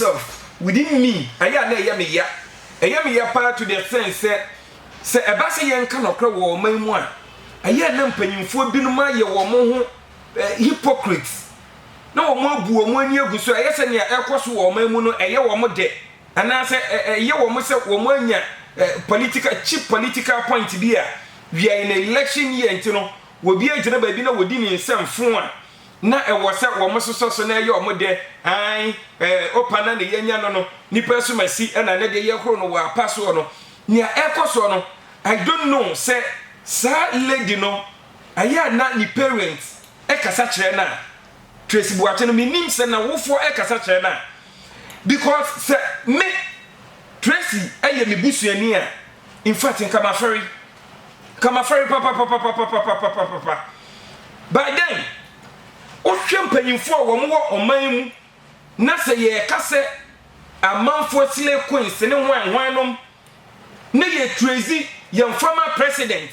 myself within me ɛyɛ a na ɛyɛ me ya, ɛyɛ me ya paa to the extent sɛ, sɛ ɛba sɛ yɛnka nɔkorɛ wɔ ɔman mu a, ɛyɛ a na mpanyimfoɔ binom ayɛ wɔn ho eh, hypocrites na wɔn abu wɔn ani agu so, ɛyɛ sɛ nea ɛkɔ so wɔ ɔman mu no ɛyɛ wɔn dɛ, anaasɛ ɛyɛ wɔn sɛ wɔn anya eh, political cheap political point bi a, we are in election year nti no, wɔbi agyina baabi na wɔdi ne nsɛm fo a, na ɛwɔ sɛ wɔsosɔ so na ɛyɛ wɔn dɛ, aane, ɛɛ, opa na ne yɛnya no no, nipa asumasi na ne de yɛ horo no wɔ apa soɔ no, nea ɛrekɔ soɔ no, I don't know sɛ saa lady no ɛyɛ a na ne parents ɛkasa kyerɛ no a, Tracy Boakye no, me nim sɛ n'awofoɔ ɛkasa kyerɛ no a, because sɛ me, Tracy ɛyɛ me busuani a, in fact nka mafɛre. Ka m'afɔre papapapapapapapapapa. By then, wohwɛ mpanyimfo a wɔn wɔ ɔman yi mu na sɛ yɛreka sɛ amanfoɔ slay queens ne hwan hwan nom na yɛ trazy yɛn former president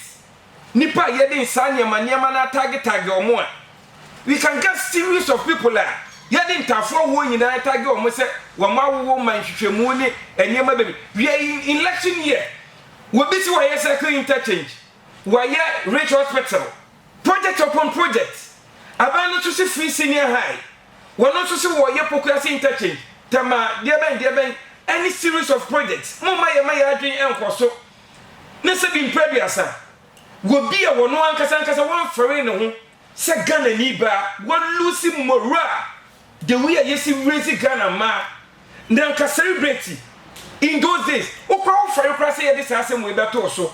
nipa a yɛde nsaa nneɛma nneɛma no atagge tagge wɔn a we can get series of people a yɛde ntaafoɔ woɔ nyinaa atagge wɔn sɛ wɔn awowo ma nhwehwɛmu ne nneɛma bɛbi we are in election year Wobi si wɔyɛ cycle interchange, wɔayɛ Ridge Hospital, project upon project. Aban no nso si free senior high, wɔno nso se wɔyɛ Pokuase interchange, Tema, deɛbɛn deɛbɛn ɛne series of projects. Momma yɛmma yɛn adwene nkɔ so ne sɛ bi mprɛduasa wɔbi a wɔno ankasa ankasa wɔmfɛree ne ho sɛ Ghanani baa, wɔlusi morale The way a yɛsi raise Ghana mmaa na anka celebrate in those days wokora wofɛre koraa sɛ yɛde saa asɛm wei bɛtoo so